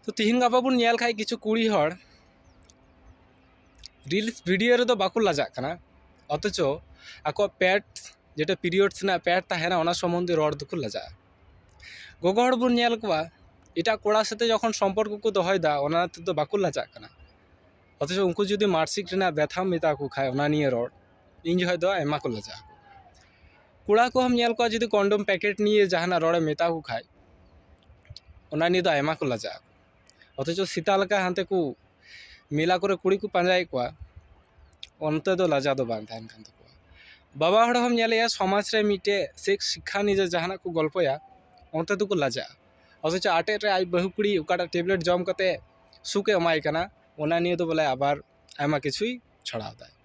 ᱛᱚ ᱛᱤᱦᱤᱧ ᱜᱟᱯᱟ ᱵᱚᱱ ᱧᱮᱞ ᱠᱷᱟᱡ ᱠᱤᱪᱷᱩ ᱠᱩᱲᱤ ᱦᱚᱲ ᱨᱤᱞᱥ ᱵᱷᱤᱰᱤᱭᱳ ᱨᱮᱫᱚ ᱵᱟᱠᱚ ᱞᱟᱡᱟᱜ ᱠᱟᱱᱟ ᱚᱛᱷᱚᱪᱚ ᱟᱠᱚᱣᱟᱜ ᱯᱮᱴ ᱡᱮᱴᱟ ᱯᱤᱨᱤᱭᱳᱰᱥ ᱨᱮᱱᱟᱜ ᱯᱮᱴ ᱛᱟᱦᱮᱱᱟ ᱚᱱᱟ ᱥᱚᱢᱚᱱᱫᱷᱮ ᱨᱚᱲ ᱫᱚᱠᱚ ᱞᱟᱡᱟᱜᱼᱟ ᱜᱚᱜᱚ ᱦᱚᱲ ᱵᱚᱱ ᱧᱮᱞ ᱠᱚᱣᱟ ᱮᱴᱟᱜ ᱠᱚᱲᱟ ᱥᱟᱛᱮ ᱡᱚᱠᱷᱚᱱ ᱥᱚᱢᱯᱚᱨᱠᱚ ᱠᱚ ᱫᱚᱦᱚᱭᱮᱫᱟ ᱚᱱᱟ ᱛᱮᱫᱚ ᱵᱟᱠᱚ ᱞᱟᱡᱟᱜ ᱠᱟᱱᱟ ᱚᱛᱷᱚᱪᱚ ᱩᱱᱠᱩ ᱡᱩᱫᱤ ᱢᱟᱨᱥᱤᱠ ᱨᱮᱱᱟᱜ ᱵᱮᱛᱷᱟᱢ ᱢᱮᱛᱟ ᱠᱚ ᱠᱷᱟᱡ ᱚᱱᱟ ᱱᱤᱭᱮ ᱨᱚᱲ ᱤᱧ ᱡᱚᱠᱷᱚᱡ ᱫᱚ ᱟᱭᱢᱟ ᱠᱚ ᱞᱟᱡᱟᱜᱼᱟ ᱠᱚᱲᱟ ᱠᱚᱦᱚᱸᱢ ᱧᱮᱞ ᱠᱚᱣᱟ ᱡᱩᱫᱤ ᱠᱚᱱᱰᱚᱢ ᱯᱮᱠᱮᱴ ᱱᱤᱭᱮ ᱡᱟᱦᱟᱱᱟᱜ ᱨᱚᱲᱮᱢ ᱢᱮᱛᱟ ᱠᱚ ᱠᱷᱟᱡ ᱚᱱᱟ ᱱᱤᱭᱮ ᱫᱚ ᱟᱭᱢᱟ ᱠᱚ ᱞᱟᱡᱟᱜᱼᱟ ᱚᱛᱷᱚᱪᱚ ᱥᱮᱛᱟ ᱞᱮᱠᱟ ᱦᱟᱱᱛᱮ ᱠᱚ ᱢᱮᱞᱟ ᱠᱚᱨᱮ ᱠᱩᱲᱤ ᱠᱚ ᱯᱟᱸᱡᱟᱭᱮᱫ ᱠᱚᱣᱟ ᱚᱱᱛᱮ ᱫᱚ ᱞᱟᱡᱟᱣ ᱫᱚ ᱵᱟᱝ ᱛᱟᱦᱮᱱ ᱠᱟᱱ ᱛᱟᱠᱚᱣᱟ ᱵᱟᱵᱟ ᱦᱚᱲ ᱦᱚᱸᱢ ᱧᱮᱞᱮᱭᱟ ᱥᱚᱢᱟᱡᱽ ᱨᱮ ᱢᱤᱫᱴᱮᱡ ᱥᱮᱠᱥ ᱥᱤᱠᱠᱷᱟ ᱱᱤᱭᱮ ᱡᱟᱦᱟᱱᱟᱜ ᱠᱚ ᱜᱚᱞᱯᱚᱭᱟ ᱚᱱᱛᱮ ᱫᱚᱠᱚ ᱞᱟᱡᱟᱜᱼᱟ ᱚᱛᱷᱚᱪᱚ ᱟᱴᱮᱫ ᱨᱮ ᱟᱡ ᱵᱟᱹᱦᱩ ᱠᱩᱲᱤ ᱚᱠᱟᱴᱟᱜ ᱴᱮᱵᱽᱞᱮᱴ ᱡᱚᱢ ᱠᱟᱛᱮ ᱥᱩᱠᱮ ᱮᱢᱟᱭ ᱠᱟᱱᱟ ᱚᱱᱟ ᱱᱤᱭᱮ ᱫᱚ ᱵᱚᱞᱮ ᱟᱵᱟᱨ ᱟᱭᱢᱟ ᱠᱤᱪᱷᱩᱭ ᱪᱷᱚᱲᱟᱣᱫᱟᱭ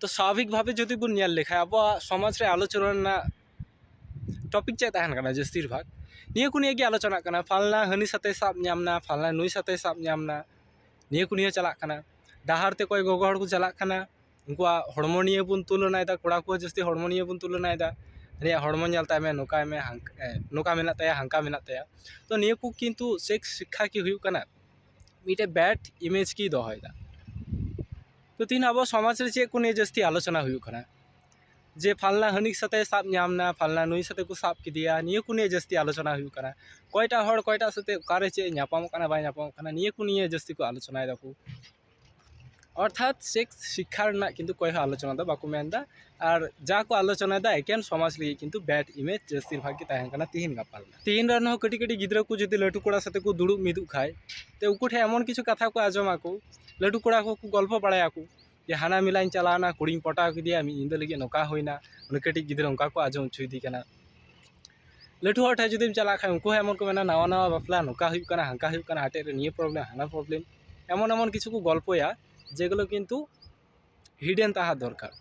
ᱛᱚ ᱥᱟᱵᱷᱟᱵᱤᱠ ᱵᱷᱟᱵᱮ ᱡᱩᱫᱤ ᱵᱚᱱ ᱧᱮᱞ ᱞᱮᱠᱷᱟᱡ ᱟᱵᱚᱣᱟᱜ ᱥᱚᱢᱟᱡᱽ ᱨᱮ ᱟᱞᱳᱪᱚᱱᱟ ᱨᱮᱱᱟᱜ ᱴᱚᱯᱤᱠ ᱪᱮᱫ ᱛᱟᱦᱮᱱ ᱠᱟᱱᱟ ᱡᱟᱹᱥᱛᱤᱨ ᱵᱷᱟᱜᱽ ᱱᱤᱭᱟᱹ ᱠᱚ ᱱᱤᱭᱮ ᱜᱮ ᱟᱞᱳᱪᱚᱱᱟᱜ ᱠᱟᱱᱟ ᱯᱷᱟᱞᱱᱟ ᱦᱟᱹᱱᱤ ᱥᱟᱛᱮᱭ ᱥᱟᱵ ᱧᱟᱢ ᱱᱟ ᱯᱷᱟᱞᱱᱟ ᱱᱩᱭ ᱥᱟᱛᱮᱭ ᱥᱟᱵ ᱧᱟᱢ ᱱᱟ ᱱᱤᱭᱟᱹ ᱠᱚ ᱱᱤᱭᱮ ᱪᱟᱞᱟᱜ ᱠᱟᱱᱟ ᱰᱟᱦᱟᱨ ᱛᱮ ᱚᱠᱚᱭ ᱜᱚᱜᱚ ᱦᱚᱲ ᱠᱚ ᱪᱟᱞᱟᱜ ᱠᱟᱱᱟ ᱩᱱᱠᱩᱣᱟᱜ ᱦᱚᱲᱢᱚ ᱱᱤᱭᱮ ᱵᱚᱱ ᱛᱩᱞᱚᱱᱟᱭᱫᱟ ᱠᱚᱲᱟ ᱠᱚᱣᱟᱜ ᱡᱟᱹᱥᱛᱤ ᱦᱚᱲᱢᱚ ᱱᱤᱭᱮ ᱵᱚᱱ ᱛᱩᱞᱚᱱᱟᱭᱫᱟ ᱦᱟᱹᱱᱤᱭᱟᱜ ᱦᱚᱲᱢᱚ ᱧᱮᱞ ᱛᱟᱭ ᱢᱮ ᱱᱚᱝᱠᱟᱭ ᱢᱮ ᱱᱚᱝᱠᱟ ᱢᱮᱱᱟᱜ ᱛᱟᱭᱟ ᱦᱟᱱᱠᱟ ᱢᱮᱱᱟᱜ ᱛᱟᱭᱟ ᱛᱚ ᱱᱤᱭᱟᱹ ᱠᱚ ᱠᱤᱱᱛᱩ ᱥᱮᱠᱥ ᱥᱤᱠᱠᱷᱟ ᱠᱤ ᱦᱩᱭᱩᱜ ᱠᱟᱱᱟ ᱢᱤᱫᱴᱮᱡ ᱵᱮᱰ ᱤᱢᱮᱡᱽ ᱜᱮᱭ ᱫᱚᱦᱚᱭᱫᱟ ᱛᱚ ᱛᱤᱦᱤᱧ ᱟᱵᱚ ᱥᱚᱢᱟᱡᱽ ᱨᱮ ᱪᱮᱫ ᱠᱚ ᱱᱤᱭᱮ ᱡᱟᱹᱥᱛᱤ ᱟᱞᱳᱪᱚᱱᱟ ᱦᱩᱭᱩᱜ ᱠᱟᱱᱟ ᱡᱮ ᱯᱷᱟᱞᱱᱟ ᱦᱟᱹᱱᱤ ᱥᱟᱛᱮ ᱥᱟᱵ ᱧᱟᱢ ᱮᱱᱟ ᱯᱷᱟᱞᱱᱟ ᱱᱩᱭ ᱥᱟᱛᱮ ᱠᱚ ᱥᱟᱵ ᱠᱮᱫᱮᱭᱟ ᱱᱤᱭᱟᱹ ᱠᱚ ᱱᱤᱭᱮ ᱡᱟᱹᱥᱛᱤ ᱟᱞᱳᱪᱚᱱᱟ ᱦᱩᱭᱩᱜ ᱠᱟᱱᱟ ᱚᱠᱚᱭᱴᱟᱜ ᱦᱚᱲ ᱚᱠᱚᱭᱴᱟᱜ ᱥᱟᱛᱮ ᱚᱠᱟᱨᱮ ᱪᱮᱫ ᱮ ᱧᱟᱯᱟᱢᱚᱜ ᱠᱟᱱᱟ ᱵᱟᱭ ᱧᱟᱯᱟᱢᱚᱜ ᱠᱟᱱᱟ ᱱᱤᱭᱟᱹ ᱠᱚ ᱱᱤᱭᱮ ᱡᱟᱹᱥᱛᱤ ᱠᱚ ᱟᱞᱳᱪᱚᱱᱟᱭ ᱫᱟᱠᱚ ᱚᱨᱛᱷᱟᱛ ᱥᱮᱠᱥ ᱥᱤᱠᱠᱷᱟ ᱨᱮᱱᱟᱜ ᱠᱤᱱᱛᱩ ᱚᱠᱚᱭ ᱦᱚᱸ ᱟᱞᱳᱪᱚᱱᱟ ᱫᱚ ᱵᱟᱠᱚ ᱢᱮᱱᱫᱟ ᱟᱨ ᱡᱟ ᱠᱚ ᱟᱞᱳᱪᱚᱱᱟᱭᱫᱟ ᱮᱠᱮᱱ ᱥᱚᱢᱟᱡᱽ ᱞᱟᱹᱜᱤᱫ ᱠᱤᱱᱛᱩ ᱵᱮᱰ ᱤᱢᱮᱡᱽ ᱡᱟᱹᱥᱛᱤᱨ ᱵᱷᱟᱜᱽ ᱜᱮ ᱛᱟᱦᱮᱱ ᱠᱟᱱᱟ ᱛᱤᱦᱤᱧ ᱜᱟᱯᱟ ᱨᱮᱱᱟᱜ ᱛᱤᱦᱤᱧ ᱨᱮᱱ ᱦᱚᱸ ᱠᱟᱹᱴᱤᱡ ᱠᱟᱹᱴᱤᱡ ᱜᱤᱫᱽᱨᱟᱹ ᱠᱚ ᱡᱩᱫᱤ ᱞᱟᱹᱴᱩ ᱠᱚᱲᱟ ᱥᱟᱛᱮ ᱠᱚ ᱫᱩᱲᱩᱵ ᱢᱤᱫᱚᱜ ᱠᱷᱟᱡ ᱛᱚ ᱩᱱᱠᱩ ᱴᱷᱮᱡ ᱮᱢᱚᱱ ᱠᱤᱪᱷᱩ ᱠᱟᱛᱷᱟ ᱠᱚ ᱟᱸᱡᱚᱢᱟᱠᱚ ᱞᱟᱹᱴᱩ ᱠᱚᱲᱟ ᱠᱚᱠᱚ ᱜᱚᱞᱯᱷᱚ ᱵᱟᱲᱟᱭᱟᱠᱚ ᱡᱮ ᱦᱟᱱᱟ ᱢᱮᱞᱟᱧ ᱪᱟᱞᱟᱣᱱᱟ ᱠᱩᱲᱤᱧ ᱯᱚᱴᱟᱣ ᱠᱮᱫᱮᱭᱟ ᱢᱤᱫ ᱧᱤᱫᱟᱹ ᱞᱟᱹᱜᱤᱫ ᱱᱚᱝᱠᱟ ᱦᱩᱭᱱᱟ ᱩᱱᱤ ᱠᱟᱹᱴᱤᱡ ᱜᱤᱫᱽᱨᱟᱹ ᱚᱱᱠᱟ ᱠᱚ ᱟᱸᱡᱚᱢ ᱦᱚᱪᱚᱭᱮᱫᱮ ᱠᱟᱱᱟ ᱞᱟᱹᱴᱩ ᱦᱚᱲ ᱴᱷᱮᱱ ᱡᱩᱫᱤᱢ ᱪᱟᱞᱟᱜ ᱠᱷᱟᱱ ᱩᱱᱠᱩ ᱦᱚᱸ ᱮᱢᱚᱱ ᱠᱚ ᱢᱮᱱᱟ ᱱᱟᱣᱟ ᱱᱟᱣᱟ ᱵᱟᱯᱞᱟ ᱱᱚᱝᱠᱟ ᱦᱩᱭᱩᱜ ᱠᱟᱱᱟ ᱦᱟᱱᱠᱟ ᱦᱩᱭᱩᱜ ᱠᱟᱱᱟ ᱟᱴᱮᱫ ᱨᱮ ᱱᱤᱭᱟᱹ ᱯᱨᱚᱵᱞᱮᱢ ᱦᱟᱱᱟ ᱯᱨᱚᱵᱞᱮᱢ ᱮᱢᱚᱱ ᱮᱢᱚᱱ ᱠᱤᱪᱷᱩ ᱠᱚ ᱜᱚᱞᱯᱚᱭᱟ ᱡᱮᱜᱩᱞᱳ ᱠᱤᱱᱛᱩ ᱦᱤᱰᱮᱱ ᱛᱟᱦᱮᱸ ᱫᱚᱨᱠᱟᱨ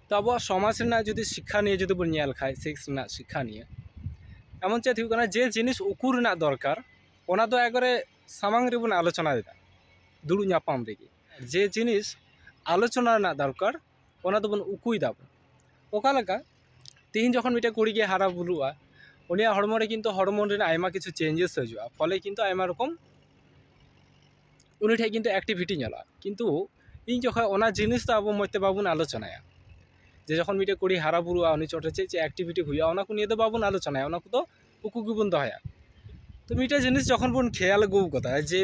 ᱛᱚ ᱟᱵᱚᱣᱟᱜ ᱥᱚᱢᱟᱡᱽ ᱨᱮᱱᱟᱜ ᱡᱩᱫᱤ ᱥᱤᱠᱠᱷᱟ ᱱᱤᱭᱮ ᱡᱩᱫᱤ ᱵᱚᱱ ᱧᱮᱞ ᱠᱷᱟᱱ ᱥᱮᱠᱥ ᱨᱮᱱᱟᱜ ᱥᱤᱠᱠᱷᱟ ᱱᱤᱭᱮ ᱮᱢᱚᱱ ᱪᱮᱫ ᱦᱩᱭᱩᱜ ᱠᱟᱱᱟ ᱡᱮ ᱡᱤᱱᱤᱥ ᱩᱠᱩ ᱨᱮᱱᱟᱜ ᱫᱚᱨᱠᱟᱨ ᱚᱱᱟ ᱫᱚ ᱮᱠᱵᱟᱨᱮ ᱥᱟᱢᱟᱝ ᱨᱮᱵᱚᱱ ᱟᱞᱳᱪᱚᱱᱟᱭᱮᱫᱟ ᱫᱩᱲᱩᱵ ᱧᱟᱯᱟᱢ ᱨᱮᱜᱮ ᱡᱮ ᱡᱤᱱᱤᱥ ᱟᱞᱳᱪᱚᱱᱟ ᱨᱮᱱᱟᱜ ᱫᱚᱨᱠᱟᱨ ᱚᱱᱟ ᱫᱚᱵᱚᱱ ᱩᱠᱩᱭ ᱫᱟᱵᱚᱱ ᱚᱠᱟ ᱞᱮᱠᱟ ᱛᱮᱦᱮᱧ ᱡᱚᱠᱷᱚᱱ ᱢᱤᱫᱴᱮᱱ ᱠᱩᱲᱤ ᱜᱮ ᱦᱟᱨᱟ ᱵᱩᱨᱩᱜᱼᱟ ᱩᱱᱤᱭᱟᱜ ᱦᱚᱲᱢᱚ ᱨᱮ ᱠᱤᱱᱛᱩ ᱦᱚᱨᱢᱚᱱ ᱨᱮᱱᱟᱜ ᱟᱭᱢᱟ ᱠᱤᱪᱷᱩ ᱪᱮᱧᱡᱮᱥ ᱦᱤᱡᱩᱜᱼᱟ ᱯᱷᱚᱞᱮ ᱠᱤᱱᱛᱩ ᱟᱭᱢᱟ ᱨᱚᱠᱚᱢ ᱩᱱᱤ ᱴᱷᱮᱱ ᱠᱤᱱᱛᱩ ᱮᱠᱴᱤᱵᱷᱤᱴᱤ ᱧᱮᱞᱚᱜᱼᱟ ᱠᱤᱱᱛᱩ ᱤᱧ ᱡᱚᱠᱷᱚᱱ ᱚᱱᱟ ᱡᱤᱱᱤᱥ ᱫᱚ ᱟᱵᱚ ᱢᱚᱡᱽ ᱛᱮ ᱵᱟᱵᱚᱱ ᱟᱞᱳᱪᱚᱱᱟᱭᱟ ᱡᱮ ᱡᱚᱠᱷᱚᱱ ᱢᱤᱫᱴᱮᱱ ᱠᱩᱲᱤ ᱦᱟᱨᱟ ᱵᱩᱨᱩᱜᱼᱟ ᱩᱱᱤ ᱪᱚᱴᱨᱮ ᱪᱮᱫ ᱪᱮᱫ ᱮᱠᱴᱤᱵᱷᱤᱴᱤ ᱦᱩᱭᱩᱜᱼᱟ ᱚᱱᱟ ᱠᱚ ᱱᱤᱭᱮ ᱫᱚ ᱵᱟᱵᱚᱱ ᱟᱞᱳᱪᱚᱱᱟᱭᱟ ᱚᱱᱟ ᱠᱚᱫᱚ ᱩᱠᱩ ᱜᱮᱵᱚᱱ ᱫᱚᱦᱚᱭᱟ ᱛᱚ ᱢᱤᱫᱴᱮᱡ ᱡᱤᱱᱤᱥ ᱡᱚᱠᱷᱚᱱ ᱵᱚᱱ ᱠᱷᱮᱭᱟᱞ ᱟᱹᱜᱩ ᱠᱟᱫᱟ ᱡᱮ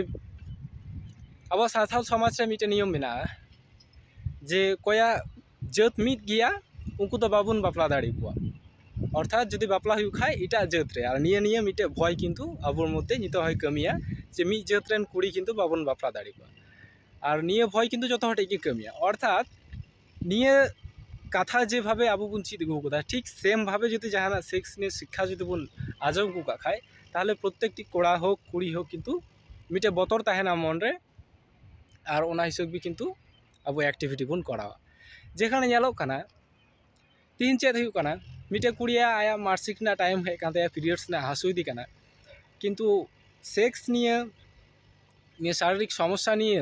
ᱟᱵᱚ ᱥᱟᱱᱛᱟᱲ ᱥᱚᱢᱟᱡᱽ ᱨᱮ ᱢᱤᱫᱴᱮᱡ ᱱᱤᱭᱚᱢ ᱢᱮᱱᱟᱜᱼᱟ ᱡᱮ ᱚᱠᱚᱭᱟᱜ ᱡᱟᱹᱛ ᱢᱤᱫ ᱜᱮᱭᱟ ᱩᱱᱠᱩ ᱫᱚ ᱵᱟᱵᱚᱱ ᱵᱟᱯᱞᱟ ᱫᱟᱲᱮ ᱠᱚᱣᱟ ᱚᱨᱛᱷᱟᱛ ᱡᱩᱫᱤ ᱵᱟᱯᱞᱟ ᱦᱩᱭᱩᱜ ᱠᱷᱟᱡ ᱮᱴᱟᱜ ᱡᱟᱹᱛ ᱨᱮ ᱟᱨ ᱱᱤᱭᱟᱹ ᱱᱤᱭᱮ ᱢᱤᱫᱴᱮᱡ ᱵᱷᱚᱭ ᱠᱤᱱᱛᱩ ᱟᱵᱚ ᱢᱚᱫᱽᱫᱷᱮ ᱱᱤᱛᱚᱜ ᱦᱚᱸᱭ ᱠᱟᱹᱢᱤᱭᱟ ᱡᱮ ᱢᱤᱫ ᱡᱟᱹᱛ ᱨᱮᱱ ᱠᱩᱲᱤ ᱠᱤᱱᱛᱩ ᱵᱟᱵᱚᱱ ᱵᱟᱯᱞᱟ ᱫᱟᱲᱮ ᱠᱚᱣᱟ ᱟᱨ ᱱᱤᱭᱟᱹ ᱵᱷᱚᱭ ᱠᱤᱱᱛᱩ ᱡᱚᱛᱚ ᱦᱚᱲ ᱴᱷᱮᱡ ᱜᱮ ᱠᱟᱹᱢᱤᱭᱟ ᱚᱨᱛᱷᱟᱛ ᱱᱤᱭᱟᱹ ᱠᱟᱛᱷᱟ ᱡᱮᱵᱷᱟᱵᱮ ᱟᱵᱚ ᱵᱚᱱ ᱪᱮᱫ ᱟᱹᱜᱩ ᱠᱟᱫᱟ ᱴᱷᱤᱠ ᱥᱮᱢ ᱵᱷᱟᱵᱮ ᱡᱩᱫᱤ ᱡᱟᱦᱟᱱᱟᱜ ᱥᱮᱠᱥ ᱱᱤᱭᱮ ᱥᱤᱠᱠᱷᱟ ᱡᱩᱫᱤ ᱵᱚᱱ ᱟᱸᱡᱚᱢ ᱟᱹᱜᱩ ᱠᱟᱜ ᱠᱷᱟᱡ ᱛᱟᱦᱚᱞᱮ ᱯᱨᱚᱛᱛᱮᱠᱴᱤ ᱠᱚᱲᱟ ᱦᱳᱠ ᱠᱩᱲᱤ ᱦᱳᱠ ᱠᱤᱱᱛᱩ ᱢᱤᱫᱴᱮᱡ ᱵᱚᱛᱚᱨ ᱛᱟᱦᱮᱱᱟ ᱢᱚᱱ ᱨᱮ ᱟᱨ ᱚᱱᱟ ᱦᱤᱥᱟᱹᱵ ᱜᱮ ᱠᱤᱱᱛᱩ ᱟᱵᱚ ᱮᱠᱴᱤᱵᱷᱤᱴᱤ ᱵᱚᱱ ᱠᱚᱨᱟᱣᱟ ᱡᱮᱠᱷᱟᱱᱮ ᱧᱮᱞᱚᱜ ᱠᱟᱱᱟ ᱛᱮᱦᱮᱧ ᱪᱮᱫ ᱦᱩᱭᱩᱜ ᱠᱟᱱᱟ ᱢᱤᱫᱴᱮᱡ ᱠᱩᱲᱤᱭᱟᱜ ᱟᱭᱟᱜ ᱢᱟᱥᱤᱠ ᱨᱮᱱᱟᱜ ᱴᱟᱭᱤᱢ ᱦᱮᱡ ᱠᱟᱱ ᱛᱟᱭᱟ ᱯᱤᱨᱤᱭᱚᱰᱥ ᱨᱮᱱᱟᱜ ᱦᱟᱹᱥᱩᱭᱮᱫᱮ ᱠᱟᱱᱟ ᱠᱤᱱᱛᱩ ᱥᱮᱠᱥ ᱱᱤᱭᱮ ᱱᱤᱭᱟᱹ ᱥᱟᱨᱤᱨᱤᱠ ᱥᱚᱢᱚᱥᱥᱟ ᱱᱤᱭᱮ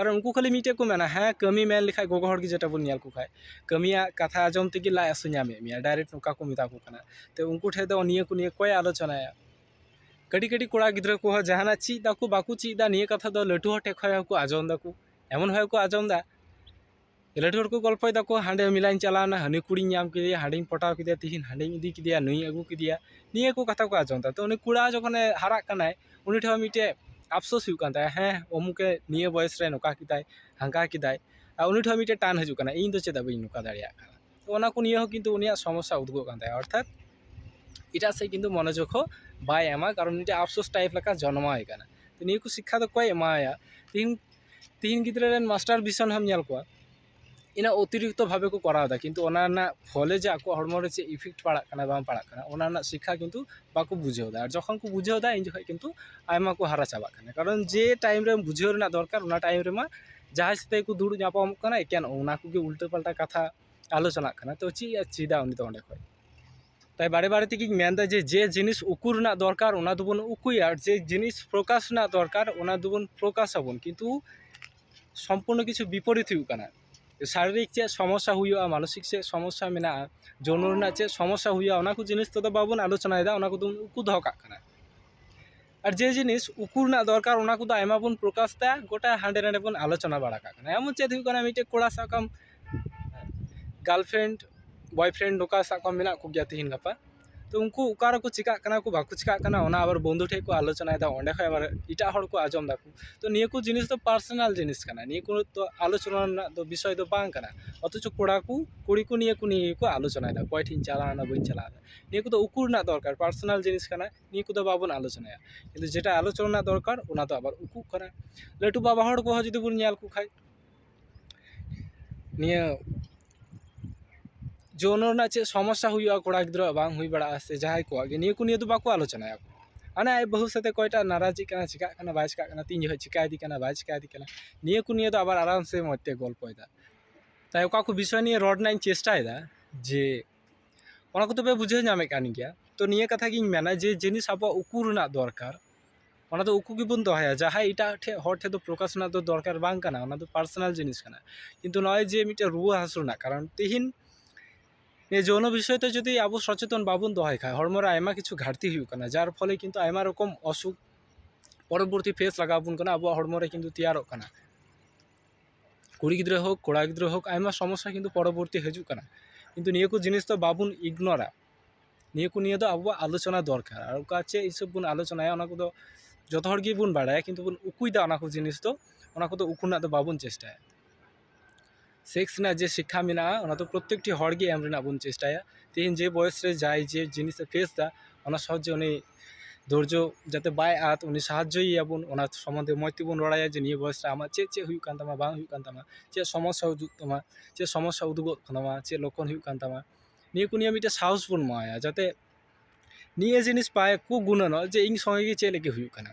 ᱟᱨ ᱩᱱᱠᱩ ᱠᱷᱟᱹᱞᱤ ᱢᱤᱫᱴᱮᱡ ᱠᱚ ᱢᱮᱱᱟ ᱦᱮᱸ ᱠᱟᱹᱢᱤ ᱢᱮᱱ ᱞᱮᱠᱷᱟᱡ ᱜᱚᱜᱚ ᱦᱚᱲ ᱜᱮ ᱡᱮᱴᱟ ᱵᱚᱱ ᱧᱮᱞ ᱠᱚᱠᱷᱟᱡ ᱠᱟᱹᱢᱤᱭᱟᱜ ᱠᱟᱛᱷᱟ ᱟᱸᱡᱚᱢ ᱛᱮᱜᱮ ᱞᱟᱡ ᱦᱟᱹᱥᱩ ᱧᱟᱢᱮᱫ ᱢᱮᱭᱟ ᱰᱟᱭᱨᱮᱠᱴ ᱱᱚᱝᱠᱟ ᱠᱚ ᱢᱮᱛᱟ ᱠᱚ ᱠᱟᱱᱟ ᱛᱚ ᱩᱱᱠᱩ ᱴᱷᱮᱡ ᱫᱚ ᱱᱤᱭᱟᱹ ᱠᱚ ᱱᱤᱭᱮ ᱚᱠᱚᱭᱮ ᱟᱞᱳᱪᱚᱱᱟᱭᱟ ᱠᱟᱹᱴᱤᱡ ᱠᱟᱹᱴᱤᱡ ᱠᱚᱲᱟ ᱜᱤᱫᱽᱨᱟᱹ ᱠᱚᱦᱚᱸ ᱡᱟᱦᱟᱱᱟᱜ ᱪᱮᱫ ᱫᱟᱠᱚ ᱵᱟᱠᱚ ᱪᱮᱫ ᱫᱟ ᱱᱤᱭᱟᱹ ᱠᱟᱛᱷᱟ ᱫᱚ ᱞᱟᱹᱴᱩ ᱦᱚᱲ ᱴᱷᱮᱡ ᱠᱷᱚᱡ ᱦᱚᱸᱠᱚ ᱟᱸᱡᱚᱢ ᱫᱟᱠᱚ ᱮᱢᱚᱱ ᱵᱷᱟᱵᱮ ᱠᱚ ᱟᱸᱡᱚᱢᱫᱟ ᱞᱟᱹᱴᱩ ᱦᱚᱲ ᱠᱚ ᱜᱚᱞᱯᱷᱚᱭ ᱫᱟᱠᱚ ᱦᱟᱸᱰᱮ ᱢᱮᱞᱟᱧ ᱪᱟᱞᱟᱣᱱᱟ ᱦᱟᱹᱱᱤ ᱠᱩᱲᱤᱧ ᱧᱟᱢ ᱠᱮᱫᱮᱭᱟ ᱦᱟᱸᱰᱮᱧ ᱯᱚᱴᱟᱣ ᱠᱮᱫᱮᱭᱟ ᱛᱮᱦᱮᱧ ᱦᱟᱸᱰᱮᱧ ᱤᱫᱤ ᱠᱮᱫᱮᱭᱟ ᱱᱩᱭᱤᱧ ᱟᱹᱜᱩ ᱠᱮᱫᱮᱭᱟ ᱱᱤᱭᱟᱹ ᱠᱚ ᱠᱟᱛᱷᱟ ᱠᱚ ᱟᱸᱡᱚᱢᱫᱟ ᱛᱚ ᱩᱱᱤ ᱠᱚᱲᱟ ᱡᱚᱠᱷᱚᱱᱮ ᱦᱟᱨᱟᱜ ᱠᱟᱱᱟᱭ ᱩᱱᱤ ᱴᱷᱮᱱ ᱦᱚᱸ ᱢᱤᱫᱴᱮᱡ ᱟᱯᱥᱳᱥ ᱦᱩᱭᱩᱜ ᱠᱟᱱ ᱛᱟᱭᱟ ᱦᱮᱸ ᱩᱢᱩᱠᱮ ᱱᱤᱭᱟᱹ ᱵᱚᱭᱮᱥ ᱨᱮ ᱱᱚᱝᱠᱟ ᱠᱮᱫᱟᱭ ᱦᱟᱱᱠᱟ ᱠᱮᱫᱟᱭ ᱟᱨ ᱩᱱᱤ ᱴᱷᱮᱱ ᱦᱚᱸ ᱢᱤᱫᱴᱮᱡ ᱴᱟᱱ ᱦᱤᱡᱩᱜ ᱠᱟᱱᱟ ᱤᱧ ᱫᱚ ᱪᱮᱫᱟᱜ ᱵᱟᱹᱧ ᱱᱚᱝᱠᱟ ᱫᱟᱲᱮᱭᱟᱜ ᱠᱟᱱᱟ ᱛᱚ ᱚᱱᱟ ᱠᱚ ᱱᱤᱭᱟᱹ ᱦᱚᱸ ᱠᱤᱱᱛᱩ ᱩᱱᱤᱭᱟᱜ ᱥᱚᱢᱚᱥᱥᱟ ᱩᱫᱩᱜᱚᱜ ᱠᱟᱱ ᱛᱟᱭᱟ ᱚᱨᱛᱷᱟᱛ ᱮᱴᱟᱜ ᱥᱮᱡ ᱠᱤᱱᱛᱩ ᱢᱚᱱᱚᱡᱳᱜᱽ ᱦᱚᱸ ᱵᱟᱭ ᱮᱢᱟ ᱠᱟᱨᱚᱱ ᱢᱤᱫᱴᱮᱡ ᱟᱯᱥᱳᱥ ᱴᱟᱭᱤᱯ ᱞᱮᱠᱟ ᱡᱚᱱᱢᱟᱣᱟᱭ ᱠᱟᱱᱟ ᱛᱚ ᱱᱤᱭᱟᱹ ᱠᱚ ᱥᱤᱠᱠᱷᱟ ᱫᱚ ᱚᱠᱚᱭᱮ ᱮᱢᱟᱣᱟᱭᱟ ᱛᱮᱦᱮᱧ ᱛᱤᱦᱤᱧ ᱜᱤᱫᱽᱨᱟᱹ ᱨᱮᱱ ᱢᱟᱥᱴᱟᱨ ᱵᱷᱤᱥᱚᱱ ᱦᱚᱸᱢ ᱧᱮᱞ ᱠᱚᱣᱟ ᱤᱱᱟᱹ ᱚᱛᱤᱨᱤᱠᱛᱚ ᱵᱷᱟᱵᱮ ᱠᱚ ᱠᱚᱨᱟᱣᱫᱟ ᱠᱤᱱᱛᱩ ᱚᱱᱟ ᱨᱮᱱᱟᱜ ᱯᱷᱚᱞᱮ ᱡᱮ ᱟᱠᱚᱣᱟᱜ ᱦᱚᱲᱢᱚ ᱨᱮ ᱪᱮᱫ ᱤᱯᱷᱮᱠᱴ ᱯᱟᱲᱟᱜ ᱠᱟᱱᱟ ᱵᱟᱝ ᱯᱟᱲᱟᱜ ᱠᱟᱱᱟ ᱚᱱᱟ ᱨᱮᱱᱟᱜ ᱥᱤᱠᱠᱷᱟ ᱠᱤᱱᱛᱩ ᱵᱟᱠᱚ ᱵᱩᱡᱷᱟᱹᱣᱫᱟ ᱟᱨ ᱡᱚᱠᱷᱚᱱ ᱠᱚ ᱵᱩᱡᱷᱟᱹᱣᱫᱟ ᱩᱱ ᱡᱚᱠᱷᱚᱱ ᱠᱤᱱᱛᱩ ᱟᱭᱢᱟ ᱠᱚ ᱦᱟᱨᱟ ᱪᱟᱵᱟᱜ ᱠᱟᱱᱟ ᱠᱟᱨᱚᱱ ᱡᱮ ᱴᱟᱭᱤᱢ ᱨᱮ ᱵᱩᱡᱷᱟᱹᱣ ᱨᱮᱱᱟᱜ ᱫᱚᱨᱠᱟᱨ ᱚᱱᱟ ᱴᱟᱭᱤᱢ ᱨᱮᱢᱟ ᱡᱟᱦᱟᱸᱭ ᱥᱟᱛᱮᱜ ᱜᱮᱠᱚ ᱫᱩᱲᱩᱵ ᱧᱟᱯᱟᱢᱚᱜ ᱠᱟᱱᱟ ᱮᱠᱮᱱ ᱚᱱᱟ ᱠᱚᱜᱮ ᱩᱞᱴᱟᱹ ᱯᱟᱞᱴᱟ ᱠᱟᱛᱷᱟ ᱟᱞᱳᱪᱚᱱᱟᱜ ᱠᱟᱱᱟ ᱛᱚ ᱪᱮᱫ ᱮ ᱪᱮᱫᱟ ᱩᱱᱤ ᱫᱚ ᱚᱸᱰᱮ ᱠᱷᱚᱡ ᱛᱟᱭ ᱵᱟᱨᱮ ᱵᱟᱨᱮ ᱛᱮᱜᱮᱧ ᱢᱮᱱᱫᱟ ᱡᱮ ᱡᱮ ᱡᱤᱱᱤᱥ ᱩᱠᱩ ᱨᱮᱱᱟᱜ ᱫᱚᱨᱠᱟᱨ ᱚᱱᱟ ᱫᱚᱵᱚᱱ ᱩᱠᱩᱭᱟ ᱟᱨ ᱡᱮ ᱡᱤᱱᱤᱥ ᱯᱨᱚᱠᱟᱥ ᱨᱮᱱᱟᱜ ᱫᱚᱨᱠᱟᱨ ᱚᱱᱟ ᱫᱚᱵᱚᱱ ᱯᱨᱚᱠᱟᱥ ᱟᱵᱚᱱ ᱠᱤᱱᱛᱩ ᱥᱚᱢᱯᱩᱨᱱᱚ ᱠᱤᱪᱷᱩ ᱵᱤᱯᱚᱨᱤᱛ ᱦᱩᱭᱩᱜ ᱠᱟᱱᱟ ᱥᱟᱨᱤᱨᱤᱠ ᱪᱮᱫ ᱥᱚᱢᱚᱥᱥᱟ ᱦᱩᱭᱩᱜᱼᱟ ᱢᱟᱱᱚᱥᱤᱠ ᱪᱮᱫ ᱥᱚᱢᱚᱥᱥᱟ ᱢᱮᱱᱟᱜᱼᱟ ᱡᱳᱱᱳ ᱨᱮᱱᱟᱜ ᱪᱮᱫ ᱥᱚᱢᱚᱥᱥᱟ ᱦᱩᱭᱩᱜᱼᱟ ᱚᱱᱟ ᱠᱚ ᱡᱤᱱᱤᱥ ᱛᱮᱫᱚ ᱵᱟᱵᱚᱱ ᱟᱞᱳᱪᱚᱱᱟᱭᱮᱫᱟ ᱚᱱᱟ ᱠᱚᱫᱚ ᱵᱚᱱ ᱩᱠᱩ ᱫᱚᱦᱚ ᱠᱟᱜ ᱠᱟᱱᱟ ᱟᱨ ᱡᱮ ᱡᱤᱱᱤᱥ ᱩᱠᱩ ᱨᱮᱱᱟᱜ ᱫᱚᱨᱠᱟᱨ ᱚᱱᱟ ᱠᱚᱫᱚ ᱟᱭᱢᱟ ᱵᱚᱱ ᱯᱨᱚᱠᱟᱥ ᱮᱫᱟ ᱜᱳᱴᱟ ᱦᱟᱸᱰᱮ ᱱᱟᱰᱮ ᱵᱚᱱ ᱟᱞᱳᱪᱚᱱᱟ ᱵᱟᱲᱟ ᱠᱟᱜ ᱠᱟᱱᱟ ᱮᱢᱚᱱ ᱪᱮᱫ ᱦᱩᱭᱩᱜ ᱠᱟᱱᱟ ᱢᱤᱫᱴᱮᱡ ᱠᱚᱲᱟ ᱥᱟᱵ ᱠᱟᱜ ᱟᱢ ᱜᱟᱨᱞ ᱯᱷᱨᱮᱱᱰ ᱵᱚᱭ ᱯᱷᱨᱮᱱᱰ ᱱᱚᱝᱠᱟ ᱥᱟᱵ ᱠᱟᱜ ᱢᱮ ᱢᱮᱱᱟᱜ ᱠᱚᱜᱮᱭᱟ ᱛᱮᱦᱮᱧ ᱜᱟᱯᱟ ᱛᱳ ᱩᱱᱠᱩ ᱚᱠᱟ ᱨᱮᱠᱚ ᱪᱤᱠᱟᱹᱜ ᱠᱟᱱᱟ ᱠᱚ ᱵᱟᱠᱚ ᱪᱤᱠᱟᱹᱜ ᱠᱟᱱᱟ ᱚᱱᱟ ᱟᱵᱟᱨ ᱵᱚᱱᱫᱷᱩ ᱴᱷᱮᱡ ᱠᱚ ᱟᱞᱳᱪᱚᱱᱟᱭᱮᱫᱟ ᱚᱸᱰᱮ ᱠᱷᱚᱡ ᱟᱵᱟᱨ ᱮᱴᱟᱜ ᱦᱚᱲ ᱠᱚ ᱟᱸᱡᱚᱢ ᱫᱟᱠᱚ ᱛᱳ ᱱᱤᱭᱟᱹ ᱠᱚ ᱡᱤᱱᱤᱥ ᱫᱚ ᱯᱟᱨᱥᱳᱱᱟᱞ ᱡᱤᱱᱤᱥ ᱠᱟᱱᱟ ᱱᱤᱭᱟᱹ ᱠᱚ ᱛᱳ ᱟᱞᱳᱪᱚᱱᱟ ᱨᱮᱱᱟᱜ ᱫᱚ ᱵᱤᱥᱚᱭ ᱫᱚ ᱵᱟᱝ ᱠᱟᱱᱟ ᱚᱛᱷᱚᱪᱚ ᱠᱚᱲᱟ ᱠᱚ ᱠᱩᱲᱤ ᱠᱚ ᱱᱤᱭᱟᱹ ᱠᱚ ᱱᱤᱭᱮ ᱜᱮᱠᱚ ᱟᱞᱳᱪᱚᱱᱟᱭᱮᱫᱟ ᱚᱠᱚᱭ ᱴᱷᱮᱡ ᱤᱧ ᱪᱟᱞᱟᱣᱱᱟ ᱵᱟᱹᱧ ᱪᱟᱞᱟᱣᱱᱟ ᱱᱤᱭᱟᱹ ᱠᱚᱫᱚ ᱩᱠᱩ ᱨᱮᱱᱟᱜ ᱫᱚᱨᱠᱟᱨ ᱯᱟᱨᱥᱳᱱᱟᱞ ᱡᱤᱱᱤᱥ ᱠᱟᱱᱟ ᱱᱤᱭᱟᱹ ᱠᱚᱫᱚ ᱵᱟᱵᱚᱱ ᱟᱞᱳᱪᱚᱱᱟᱭᱟ ᱠᱤᱱᱛᱩ ᱡᱮᱴᱟ ᱟᱞᱳᱪᱚᱱᱟ ᱨᱮᱱᱟᱜ ᱫᱚᱨᱠᱟᱨ ᱚᱱᱟ ᱫᱚ ᱟᱵᱟᱨ ᱩᱠᱩᱜ ᱠᱟᱱᱟ ᱞᱟᱹᱴᱩ ᱵᱟᱵᱟ ᱦᱚᱲ ᱠᱚᱦᱚᱸ ᱡᱩᱫᱤ ᱵᱚᱱ ᱧᱮᱞ ᱠᱚ ᱠᱷᱟᱱ ᱱᱤᱭᱟᱹ ᱡᱳᱱ ᱨᱮᱱᱟᱜ ᱪᱮᱫ ᱥᱚᱢᱚᱥᱥᱟ ᱦᱩᱭᱩᱜᱼᱟ ᱠᱚᱲᱟ ᱜᱤᱫᱽᱨᱟᱹᱣᱟᱜ ᱵᱟᱝ ᱦᱩᱭ ᱵᱟᱲᱟᱜᱼᱟ ᱥᱮ ᱡᱟᱦᱟᱸᱭ ᱠᱚᱣᱟᱜ ᱜᱮ ᱱᱤᱭᱟᱹ ᱠᱚ ᱱᱤᱭᱮ ᱫᱚ ᱵᱟᱠᱚ ᱟᱞᱳᱪᱚᱱᱟᱭᱟ ᱦᱟᱱᱮ ᱟᱡ ᱵᱟᱹᱦᱩ ᱥᱟᱛᱮ ᱚᱠᱚᱭᱴᱟᱜ ᱱᱟᱨᱟᱡᱤᱜ ᱠᱟᱱᱟᱭ ᱪᱮᱠᱟᱜ ᱠᱟᱱᱟᱭ ᱵᱟᱭ ᱪᱮᱠᱟᱜ ᱠᱟᱱᱟ ᱛᱤᱱ ᱡᱚᱠᱷᱚᱱ ᱪᱮᱠᱟᱭᱮᱫᱮ ᱠᱟᱱᱟᱭ ᱵᱟᱭ ᱪᱮᱠᱟᱭᱮᱫᱮ ᱠᱟᱱᱟᱭ ᱱᱤᱭᱟᱹ ᱠᱚ ᱱᱤᱭᱮ ᱫᱚ ᱟᱵᱟᱨ ᱟᱨᱟᱢ ᱥᱮ ᱢᱚᱡᱽ ᱛᱮ ᱜᱚᱞᱯᱚᱭᱮᱫᱟ ᱛᱟᱭ ᱚᱠᱟ ᱠᱚ ᱵᱤᱥᱚᱭ ᱱᱤᱭᱮ ᱨᱚᱲ ᱨᱮᱱᱟᱜ ᱤᱧ ᱪᱮᱥᱴᱟᱭᱮᱫᱟ ᱡᱮ ᱚᱱᱟ ᱠᱚᱫᱚ ᱯᱮ ᱵᱩᱡᱷᱟᱹᱣ ᱧᱟᱢᱮᱫ ᱠᱟᱱ ᱜᱮᱭᱟ ᱛᱚ ᱱᱤᱭᱟᱹ ᱠᱟᱛᱷᱟ ᱜᱤᱧ ᱢᱮᱱᱟ ᱡᱮ ᱡᱤᱱᱤᱥ ᱟᱵᱚᱣᱟᱜ ᱩᱠᱩ ᱨᱮᱱᱟᱜ ᱫᱚᱨᱠᱟᱨ ᱚᱱᱟ ᱫᱚ ᱩᱠᱩ ᱜᱮᱵᱚᱱ ᱫᱚᱦᱚᱭᱟ ᱡᱟᱦᱟᱸᱭ ᱮᱴᱟᱜ ᱴᱷᱮᱡ ᱦᱚᱲ ᱴᱷᱮᱡ ᱫᱚ ᱯᱨᱚᱠᱟᱥ ᱨᱮᱱᱟᱜ ᱫᱚ ᱫᱚᱨᱠᱟᱨ ᱵᱟᱝ ᱠᱟᱱᱟ ᱚᱱᱟ ᱫᱚ ᱯᱟᱨᱥᱚᱱᱟᱞ ᱡᱤᱱᱤᱥ ᱠᱟᱱᱟ ᱠᱤᱱᱛᱩ ᱱᱚᱜᱼᱚᱭ ᱡᱮ ᱢᱤᱫᱴᱮᱡ ᱨᱩᱣᱟᱹ ᱦᱟᱹᱥᱩ ᱨᱮᱱᱟᱜ ᱠᱟᱨᱚᱱ ᱛᱤᱦᱤᱧ ᱱᱤᱭᱟᱹ ᱡᱳᱱᱳ ᱵᱤᱥᱚᱭ ᱛᱮ ᱡᱩᱫᱤ ᱟᱵᱚ ᱥᱚᱪᱮᱛᱚᱱ ᱵᱟᱵᱚᱱ ᱫᱚᱦᱚᱭ ᱠᱷᱟᱡ ᱦᱚᱲᱢᱚ ᱨᱮ ᱟᱭᱢᱟ ᱠᱤᱪᱷᱩ ᱜᱷᱟᱴᱛᱤ ᱦᱩᱭᱩᱜ ᱠᱟᱱᱟ ᱡᱟᱨ ᱯᱷᱚᱞᱮ ᱠᱤᱱᱛᱩ ᱟᱭᱢᱟ ᱨᱚᱠᱚᱢ ᱚᱥᱩᱠ ᱯᱚᱨᱚᱵᱚᱨᱛᱤ ᱯᱷᱮᱥ ᱞᱟᱜᱟᱣ ᱵᱚᱱ ᱠᱟᱱᱟ ᱟᱵᱚᱣᱟᱜ ᱦᱚᱲᱢᱚ ᱨᱮ ᱠᱤᱱᱛᱩ ᱛᱮᱭᱟᱨᱚᱜ ᱠᱟᱱᱟ ᱠᱩᱲᱤ ᱜᱤᱫᱽᱨᱟᱹ ᱦᱳᱠ ᱠᱚᱲᱟ ᱜᱤᱫᱽᱨᱟᱹ ᱦᱳᱠ ᱟᱭᱢᱟ ᱥᱚᱢᱚᱥᱥᱟ ᱠᱤᱱᱛᱩ ᱯᱚᱨᱚᱵᱚᱨᱛᱤ ᱦᱤᱡᱩᱜ ᱠᱟᱱᱟ ᱠᱤᱱᱛᱩ ᱱᱤᱭᱟᱹ ᱠᱚ ᱡᱤᱱᱤᱥ ᱫᱚ ᱵᱟᱵᱚᱱ ᱤᱜᱽᱱᱳᱨᱟ ᱱᱤᱭᱟᱹ ᱠᱚ ᱱᱤᱭᱮ ᱫᱚ ᱟᱵᱚᱣᱟᱜ ᱟᱞᱳᱪᱚᱱᱟ ᱫᱚᱨᱠᱟᱨ ᱟᱨ ᱚᱠᱟ ᱪᱮᱫ ᱦᱤᱥᱟᱹᱵ ᱵᱚᱱ ᱟᱞᱳᱪᱚᱱᱟᱭᱟ ᱚᱱᱟ ᱠᱚᱫᱚ ᱡᱚᱛᱚ ᱦᱚᱲ ᱜᱮᱵᱚᱱ ᱵᱟᱲᱟᱭᱟ ᱠᱤᱱᱛᱩ ᱵᱚᱱ ᱩᱠᱩᱭᱫᱟ ᱚᱱᱟ ᱠᱚ ᱡᱤᱱᱤᱥ ᱫᱚ ᱚᱱᱟ ᱠᱚᱫᱚ ᱩᱠᱩ ᱨᱮᱱᱟᱜ ᱫᱚ ᱵᱟᱵᱚᱱ ᱪᱮᱥᱴᱟᱭᱟ ᱥᱮᱠᱥ ᱨᱮᱱᱟᱜ ᱡᱮ ᱥᱤᱠᱠᱷᱟ ᱢᱮᱱᱟᱜᱼᱟ ᱚᱱᱟ ᱫᱚ ᱯᱨᱚᱛᱮᱠᱴᱤ ᱦᱚᱲ ᱜᱮ ᱮᱢ ᱨᱮᱱᱟᱜ ᱵᱚᱱ ᱪᱮᱥᱴᱟᱭᱟ ᱛᱮᱦᱮᱧ ᱡᱮ ᱵᱚᱭᱮᱥ ᱨᱮ ᱡᱟᱦᱟᱸᱭ ᱡᱮ ᱡᱤᱱᱤᱥᱮ ᱯᱷᱮᱥᱫᱟ ᱚᱱᱟ ᱥᱚᱦᱚᱡᱮ ᱩᱱᱤ ᱫᱷᱳᱨᱡᱳ ᱡᱟᱛᱮ ᱵᱟᱭ ᱟᱫᱽ ᱩᱱᱤ ᱥᱟᱦᱟᱡᱽᱡᱳᱭᱮᱭᱟ ᱵᱚᱱ ᱚᱱᱟ ᱥᱚᱢᱚᱱᱫᱷᱮ ᱢᱚᱡᱽ ᱛᱮᱵᱚᱱ ᱨᱚᱲᱟᱭᱟ ᱡᱮ ᱱᱤᱭᱟᱹ ᱵᱚᱭᱮᱥ ᱨᱮ ᱟᱢᱟᱜ ᱪᱮᱫ ᱪᱮᱫ ᱦᱩᱭᱩᱜ ᱠᱟᱱ ᱛᱟᱢᱟ ᱵᱟᱝ ᱦᱩᱭᱩᱜ ᱠᱟᱱ ᱛᱟᱢᱟ ᱪᱮᱫ ᱥᱚᱢᱚᱥᱥᱟ ᱩᱫᱩᱜ ᱛᱟᱢᱟ ᱪᱮᱫ ᱥᱚᱢᱚᱥᱥᱟ ᱩᱫᱩᱜᱚᱜ ᱠᱟᱱ ᱛᱟᱢᱟ ᱪᱮᱫ ᱞᱚᱠᱠᱷᱚᱱ ᱦᱩᱭᱩᱜ ᱠᱟᱱ ᱛᱟᱢᱟ ᱱᱤᱭᱟᱹ ᱠᱚ ᱱᱤᱭᱮ ᱢᱤᱫᱴᱮᱱ ᱥᱟᱦᱚᱥ ᱵᱚᱱ ᱮᱢᱟᱣᱟᱭᱟ ᱡᱟᱛᱮ ᱱᱤᱭᱟᱹ ᱡᱤᱱᱤᱥ ᱵᱟᱠᱚ ᱜᱩᱱᱟᱹᱱᱚᱜ ᱡᱮ ᱤᱧ ᱥᱚᱸᱜᱮ ᱜᱮ ᱪᱮᱫ ᱞᱟᱹᱜᱤᱫ ᱦᱩᱭᱩᱜ ᱠᱟᱱᱟ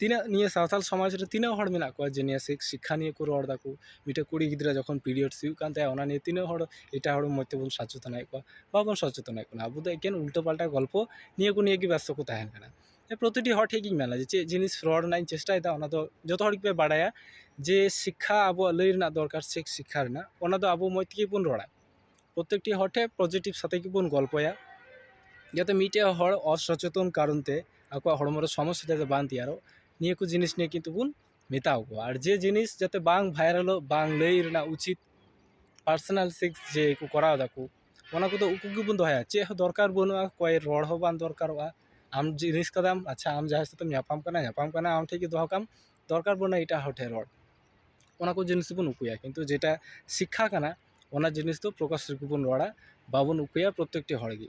ᱛᱤᱱᱟᱹᱜ ᱱᱤᱭᱟᱹ ᱥᱟᱶᱛᱟᱞ ᱥᱚᱢᱟᱡᱽ ᱨᱮ ᱛᱤᱱᱟᱹᱜ ᱦᱚᱲ ᱢᱮᱱᱟᱜ ᱠᱚᱣᱟ ᱡᱮ ᱱᱤᱭᱟᱹ ᱥᱤᱠᱠᱷᱟ ᱱᱤᱭᱮ ᱠᱚ ᱨᱚᱲ ᱫᱟᱠᱚ ᱢᱤᱫᱴᱮᱱ ᱠᱩᱲᱤ ᱜᱤᱫᱽᱨᱟᱹ ᱡᱚᱠᱷᱚᱱ ᱯᱤᱨᱤᱭᱳᱰᱥ ᱦᱩᱭᱩᱜ ᱠᱟᱱ ᱛᱟᱭᱟ ᱚᱱᱟ ᱱᱤᱭᱮ ᱛᱤᱱᱟᱹᱜ ᱦᱚᱲ ᱮᱴᱟᱜ ᱦᱚᱲ ᱢᱚᱡᱽ ᱛᱮᱵᱚᱱ ᱥᱚᱪᱮᱛᱚᱱᱮᱫ ᱠᱚᱣᱟ ᱵᱟᱵᱚᱱ ᱥᱚᱪᱮᱛᱚᱱᱮᱫ ᱠᱚᱣᱟ ᱟᱵᱚ ᱫᱚ ᱮᱠᱮᱱ ᱩᱞᱴᱟᱹ ᱯᱟᱞᱴᱟ ᱜᱚᱞᱯᱚ ᱱᱤᱭᱟᱹ ᱠᱚ ᱱᱤᱭᱮ ᱜᱮ ᱵᱮᱥᱛᱚ ᱠᱚ ᱛᱟᱦᱮᱱ ᱠᱟᱱᱟ ᱯᱨᱚᱛᱤᱴᱤ ᱦᱚᱲ ᱴᱷᱮᱱ ᱜᱤᱧ ᱢᱮᱱᱟ ᱡᱮ ᱪᱮᱫ ᱡᱤᱱᱤᱥ ᱨᱚᱲ ᱨᱮᱱᱟᱜ ᱤᱧ ᱪᱮᱥᱴᱟᱭᱮᱫᱟ ᱚᱱᱟ ᱫᱚ ᱡᱚᱛᱚ ᱦᱚᱲ ᱜᱮᱯᱮ ᱵᱟᱲᱟᱭᱟ ᱡᱮ ᱥᱤᱠᱠᱷᱟ ᱟᱵᱚᱣᱟᱜ ᱞᱟᱹᱭ ᱨᱮᱱᱟᱜ ᱫᱚᱨᱠᱟᱨ ᱥᱮ ᱥᱤᱠᱠᱷᱟ ᱨᱮᱱᱟᱜ ᱚᱱᱟ ᱫᱚ ᱟᱵᱚ ᱢᱚᱡᱽ ᱛᱮᱜᱮ ᱵᱚᱱ ᱨᱚᱲᱟ ᱯᱨᱚᱛᱮᱠᱴᱤ ᱦᱚᱲ ᱴᱷᱮᱱ ᱯᱚᱡᱮᱴᱤᱵᱽ ᱥᱟᱛᱮ ᱜᱮᱵᱚᱱ ᱜᱚᱞᱯᱚᱭᱟ ᱡᱟᱛᱮ ᱢᱤᱫᱴᱮᱱ ᱦᱚᱲ ᱚᱥᱚᱪᱮᱛᱚᱱ ᱠᱟᱨᱚᱱ ᱛᱮ ᱟᱠᱚᱣᱟᱜ ᱦᱚᱲᱢᱚ ᱨᱮ ᱥᱚᱢᱚᱥᱥᱟ ᱡᱟᱛᱮ ᱵᱟᱝ ᱛᱮᱭᱟᱨᱚᱜ ᱱᱤᱭᱟᱹ ᱠᱚ ᱡᱤᱱᱤᱥ ᱱᱤᱭᱮ ᱠᱤᱱᱛᱩ ᱵᱚᱱ ᱢᱮᱛᱟ ᱠᱚᱣᱟ ᱟᱨ ᱡᱮ ᱡᱤᱱᱤᱥ ᱡᱟᱛᱮ ᱵᱟᱝ ᱵᱷᱟᱭᱨᱟᱞᱚᱜ ᱵᱟᱝ ᱞᱟᱹᱭ ᱨᱮᱱᱟᱜ ᱩᱪᱤᱛ ᱯᱟᱨᱥᱚᱱᱟᱞ ᱥᱮᱠᱥ ᱡᱮ ᱠᱚ ᱠᱚᱨᱟᱣ ᱫᱟᱠᱚ ᱚᱱᱟ ᱠᱚᱫᱚ ᱩᱠᱩ ᱜᱮᱵᱚᱱ ᱫᱚᱦᱚᱭᱟ ᱪᱮᱫ ᱦᱚᱸ ᱫᱚᱨᱠᱟᱨ ᱵᱟᱹᱱᱩᱜᱼᱟ ᱚᱠᱚᱭ ᱨᱚᱲ ᱦᱚᱸ ᱵᱟᱝ ᱫᱚᱨᱠᱟᱨᱚᱜᱼᱟ ᱟᱢ ᱡᱤᱱᱤᱥ ᱠᱟᱫᱟᱢ ᱟᱪᱪᱷᱟ ᱟᱢ ᱡᱟᱦᱟᱸᱭ ᱥᱟᱛᱮᱢ ᱧᱟᱯᱟᱢ ᱠᱟᱱᱟ ᱧᱟᱯᱟᱢ ᱠᱟᱱᱟᱢ ᱟᱢ ᱴᱷᱮᱱ ᱜᱮ ᱫᱚᱦᱚ ᱠᱟᱜ ᱟᱢ ᱫᱚᱨᱠᱟᱨ ᱵᱟᱹᱱᱩᱜᱼᱟ ᱮᱴᱟᱜ ᱦᱚᱲ ᱴᱷᱮᱱ ᱨᱚᱲ ᱚᱱᱟ ᱠᱚ ᱡᱤᱱᱤᱥ ᱵᱚᱱ ᱩᱠᱩᱭᱟ ᱠᱤᱱᱛᱩ ᱡᱮᱴᱟ ᱥᱤᱠᱠᱷᱟ ᱠᱟᱱᱟ ᱚᱱᱟ ᱡᱤᱱᱤᱥ ᱫᱚ ᱯᱨᱚᱠᱟᱥ ᱨᱮᱜᱮ ᱵᱚᱱ ᱨᱚᱲᱟ ᱵᱟᱵᱚᱱ ᱩᱠᱩᱭᱟ ᱯᱨᱚᱛᱮᱠᱴᱤ ᱦᱚᱲᱜᱮ